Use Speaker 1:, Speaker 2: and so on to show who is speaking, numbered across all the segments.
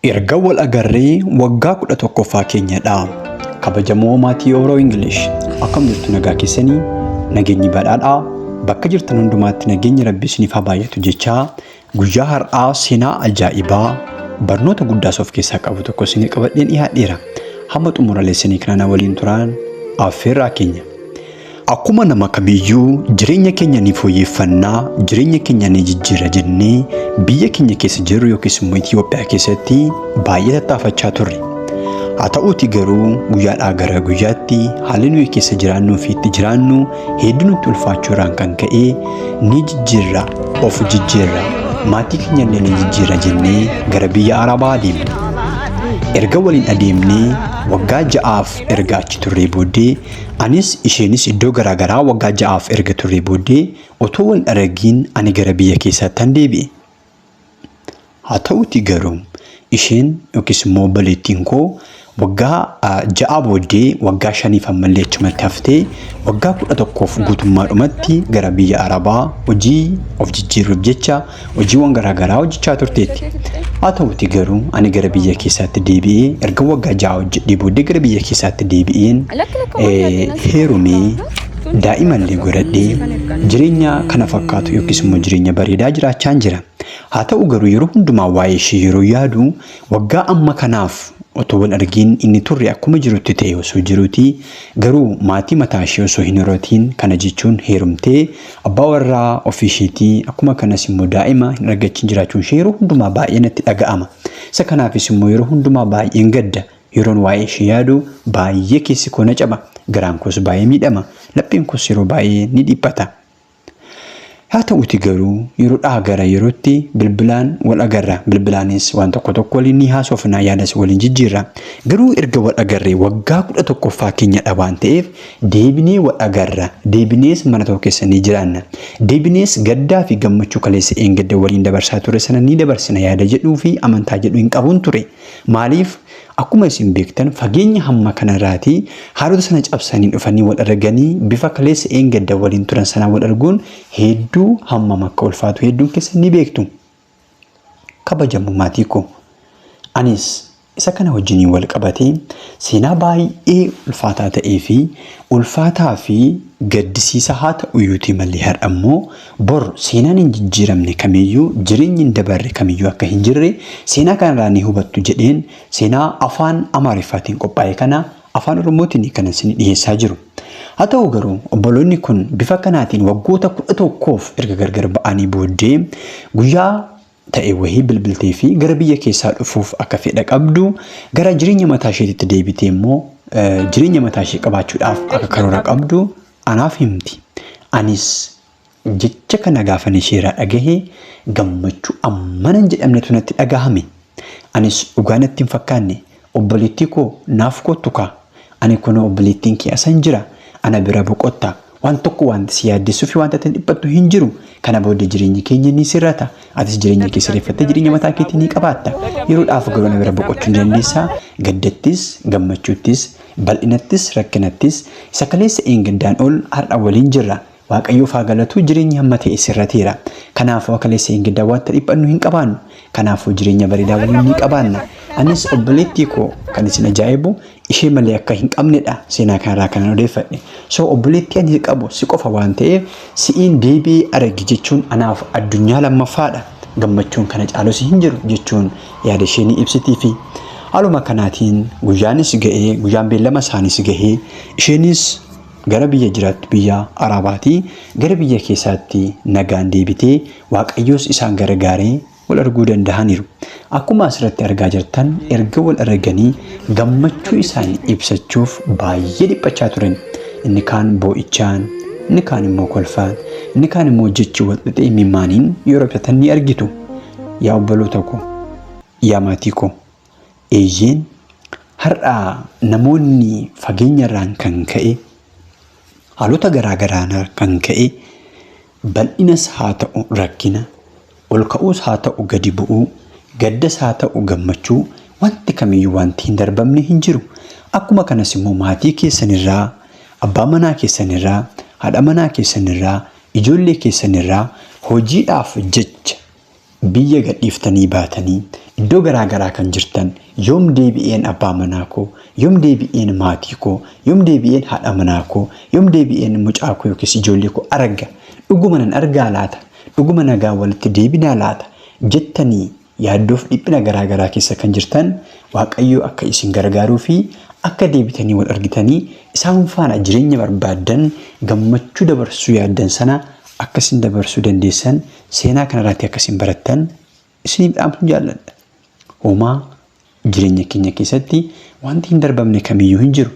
Speaker 1: Erga wal agarree waggaa 11ffaa keenya dha. Kabajamoo maatii Oro English akkam jirtu nagaa keessanii? Nageenyi badhaadhaa bakka jirtan hundumaatti nageenyi Rabbi isiniif haa baay'atu jechaa guyyaa har'aa seenaa ajaa'ibaa barnoota guddaas of keessaa qabu tokko isinii qabadheen dhiyaadheera. Hamma xumura leesanii kanaa waliin turaan affeerraa keenya. Akkuma nama kamiiyyuu jireenya keenya ni fooyyeffanna, jireenya keenya ni jijjiira jennee biyya keenya keessa jirru yookiis immoo Itoophiyaa keessatti baay'ee tattaafachaa turre. Haa ta'uutii garuu guyyaadhaa gara guyyaatti haalli nuyi keessa jiraannuu fi itti jiraannu hedduu nutti ulfaachuu irraan kan ka'e ni jijjiirra, of jijjiirra, maatii keenya illee ni jijjiira jennee gara biyya Arabaa adeemne. Erga waliin adeemnee waggaa ja'aaf erga achi turree booddee Anis isheenis iddoo garaa garaa waggaa ja'aaf erga turree booddee otoo wal aragiin ani gara biyya keessaattan deebi'e. Haa ta'uutii garuu isheen yookiis immoo obboleettiin koo waggaa ja'aa booddee waggaa shaniif ammallee achumatti haftee waggaa kudha tokkoof guutummaadhumatti gara biyya Arabaa hojii of jijjiirruuf jecha hojiiwwan garaagaraa hojjechaa turteetti. Haa ta'uutii garuu ani gara biyya keessaatti deebi'ee erga waggaa ja'a hojjedhee booddee gara biyya keessaatti deebi'een heerumee daa'imallee godhadhee jireenya kana fakkaatu yookiis immoo jireenya bareedaa jiraachaan jira. Haa ta'u garuu yeroo hundumaa waa'ee ishee yeroo yaadu waggaa amma kanaaf otoo wal argiin inni turre akkuma jirutti ta'e osoo jiruuti garuu maatii mataa ishee osoo hin horatiin kana jechuun heerumtee Abbaa warraa ofii isheetii akkuma kanas immoo daa'ima hin argachiin jiraachuun ishee yeroo hundumaa baay'ee natti dhaga'ama. Isa kanaafis immoo yeroo hundumaa baay'een gadda. Yeroon waa'ee ishee yaadu baay'ee keessi koo na caba. Garaan koos baay'ee miidhama. Lapheen koos yeroo baay'ee ni dhiphata. Haa ta'uuti garuu yeroo dhaa gara yerootti bilbilaan wal agarra. Bilbilaanis waan tokko tokko waliin ni haasofna yaadas waliin jijjiirra. Garuu erga wal agarree waggaa kudha tokkoffaa keenyadha waan ta'eef Deebinee wal agarra, deebinees mana tokko keessa ni jiraanna. Deebinees gaddaa fi gammachuu kaleessa dheengadda waliin dabarsaa turre sana ni dabarsina yaada jedhuu fi amantaa jedhu hin qabun ture. Maaliif? Akkuma isin beektan fageenya hamma kana irraatii haalota sana cabsanii dhufanii wal arganii bifa kaleessa dheengadda waliin turan sanaan wal arguun heedduu hammam akka ulfaatu heedduun keessan ni beektu. Kabajamoo maatii koo! Anis isa kana wajjiniin wal qabatee seenaa baay'ee ulfaataa ta'ee fi ulfaataa fi gaddisiisaa haa ta'uyyuutii malee har'a immoo bor seenaan hin jijjiiramne kamiyyuu jireenyi hin dabarre kamiyyuu akka hin jirre seenaa kanarraa ni hubattu jedheen seenaa afaan Amaariffaatiin qophaa'e kana Afaan Oromootiin kan isin dhiheessaa jiru. Haa ta'u garuu obboloonni kun bifa kanaatiin waggoota kudha tokkoof erga gargar ba'anii booddee guyyaa ta'e wahii bilbiltee fi gara biyya keessaa dhufuuf akka fedha qabdu gara jireenya mataa isheetitti deebitee immoo jireenya mataa ishee qabaachuudhaaf akka karoora qabdu anaaf himti. Anis Jecha kana gaafan isheeraa dhagahe gammachuu ammana hin jedhamnetu natti dhagahame. Anis dhugaa natti hin fakkaanne obboleettii koo naaf koottu kaa ani kunoo obboleettiin kee asan jira ana bira boqotta waan tokko waanti si yaaddessuu fi waanti ati dhiphattu hin jiru kana booda jireenyi keenya ni sirrata atis jireenya kee sirreeffattee jireenya mataa keetii ni qabaatta yeroodhaaf garuu ana bira boqochuu ni dandeessa gaddattis gammachuuttis bal'inattis rakkinattis isa kaleessa eengandaan ol har'a waliin jirra Waaqayyoof haa galatu jireenyi hamma ta'e sirrateera. Kanaafuu akka Lessee Engeddaa wanta dhiphannu hin qabaannu. Kanaafuu jireenya bareedaa waliin ni qabaanna. Anis obboleettii koo kan isin ajaa'ibu ishee malee akka hin qabnedha seenaa kanarraa kanan odeeffadhe. So obboleettii ani qabu si qofa waan ta'eef si'iin deebi'ee arage jechuun anaaf addunyaa lammaffaadha. Gammachuun kana caalus hin jiru jechuun yaada ishee ni ibsitiifi. Haaluma kanaatiin guyyaanis ga'ee guyyaan beellama isaaniis gahee isheenis Gara biyya jiraattu biyya Araabaatii gara biyya keessaatti nagaan deebitee Waaqayyoos isaan garagaaree wal arguu dandahaniiru. Akkuma asirratti argaa jirtan erga wal araganii gammachuu isaanii ibsachuuf baay'ee dhiphachaa turan. Inni kaan boo'ichaan, inni kaan immoo kolfaan, inni kaan immoo jechi wal xaxee imimmaaniin yoo raphatan ni argitu. Yaa obboloota koo, yaa maatii koo, Eeyyeen, har'a namoonni fageenyarraan kan ka'e, haalota garaa garaarraan kan ka'e, bal'inas haa ta'u rakkina, ol ka'uus haa ta'u gadi bu'uu, gaddas haa ta'u gammachuu wanti kamiyyuu wanti hin darbamne hin jiru. Akkuma kanas immoo maatii keessanirraa, abbaa manaa keessanirraa, haadha manaa keessanirraa, ijoollee keessanirraa hojiidhaaf jecha Biyya gadhiiftanii baatanii iddoo garaa garaa kan jirtan, yoom deebi'een abbaa manaa koo, yoom deebi'een maatii koo, yoom deebi'een haadha manaa koo, yoom deebi'een mucaa koo yookiis ijoollee koo arga? Dhuguma nan argaa laata? Dhuguma nagaan walitti deebinaa laata? jettanii yaaddoof dhiphina garaa garaa keessa kan jirtan, Waaqayyoo akka isin gargaaruu fi akka deebitanii wal argitanii isaan faana jireenya barbaaddan gammachuu dabarsuu yaaddan sana akka isin dabarsuu dandeessan Seenaa kanarraatti akka isin barattan isiniif dhaamsuun jaalladha. Homaa jireenya keenya keessatti wanti hin darbamne kamiyyuu hin jiru.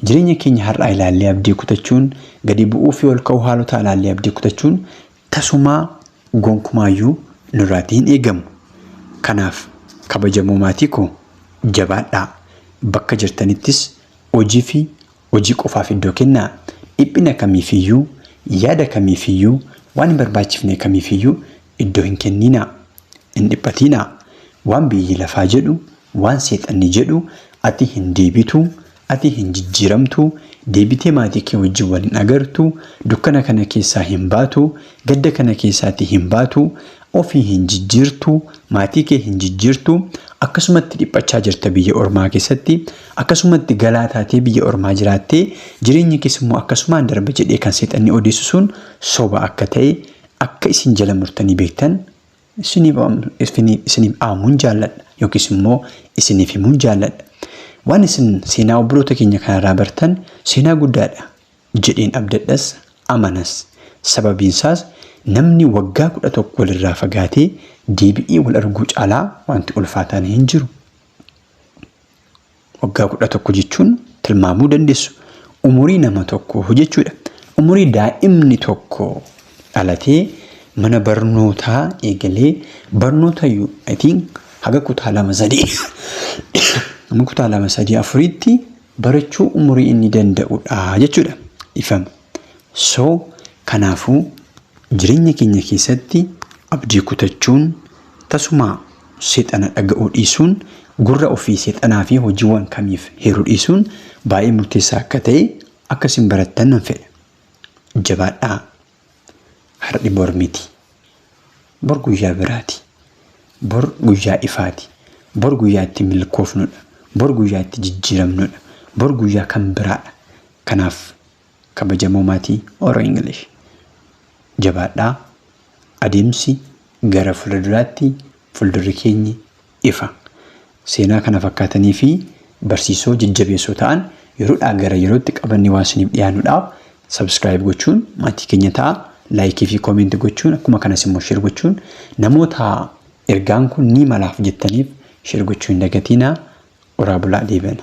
Speaker 1: Jireenya keenya har'aa ilaallee abdii kutachuun, gadi bu'uu fi ol ka'uu haalotaa ilaallee abdii kutachuun tasumaa gonkumaayyuu nurraatti hin eegamu. Kanaaf kabajamoo maatii koo jabaadhaa. Bakka jirtanittis hojii fi Hojii qofaaf iddoo kennaa. Dhiphina kamiifiyyuu, yaada kamiifiyyuu, waan hin barbaachifne kamiifiyyuu iddoo hin kenniinaa. Hin dhiphatiinaa. Waan biyyi lafaa jedhu, waan seexanni jedhu, ati hin deebitu, ati hin jijjiiramtu, deebitee maatii kee wajjin wal hin agartu, dukkana kana keessaa hin baatu, gadda kana keessaatii hin baatu, Ofii hin jijjiirtu, maatii kee hin jijjiirtu, akkasumatti dhiphachaa jirta biyya ormaa keessatti, akkasumatti galaa taatee biyya ormaa jiraattee jireenyi kees immoo akkasumaan darba jedhee kan seexanni odeessu sun soba akka ta'e akka isin jala murtanii beektan isiniif dhaamuun jaalladha yookiis immoo isiniif himuun jaalladha. Waan isin seenaa obboloota keenya kanarraa bartan seenaa guddaadha. jedheen abdadhas amanas. Sababiinsaas namni waggaa 11 walirraa fagaatee deebi'ee wal arguu caalaa wanti ulfaataan hin jiru. Waggaa 11 jechuun tilmaamuu dandeessu umurii nama tokko jechuudha. Umurii daa'imni tokko dhalatee mana barnootaa eegalee barnoota I think haga kutaa lama sadii haga kutaa lama sadii afuriitti barachuu umurii inni danda'u dha jechuudha. Dhifama. So kanaafuu jireenya keenya keessatti abdii kutachuun tasumaa seexana dhaga'uu dhiisuun gurra ofii seexanaa fi hojiiwwan kamiif heeruu dhiisuun baay'ee murteessaa akka ta'e akka isin barattan nan fedha. Jabaadhaa Har'i bor miti. Bor guyyaa biraati. Bor guyyaa ifaati. Bor guyyaa itti milkoofnudha. Bor guyyaa itti jijjiiramnudha. Bor guyyaa kan biraadha. Kanaaf kabajamoo maatii Oro English jabaadhaa adeemsi gara fuulduraatti fuuldurri keenyi ifa seenaa kana fakkaatanii fi barsiisoo jajjabeessoo ta'an yeroodhaa gara yerootti qabannee waan isiniif dhiyaannudhaaf subscribe gochuun maatii keenya ta'a laayikii fi koomeenti gochuun akkuma kanas immoo share gochuun namoota ergaan kun ni malaaf jettaniif share gochuu hin dagatiinaa oraa bulaa deebana.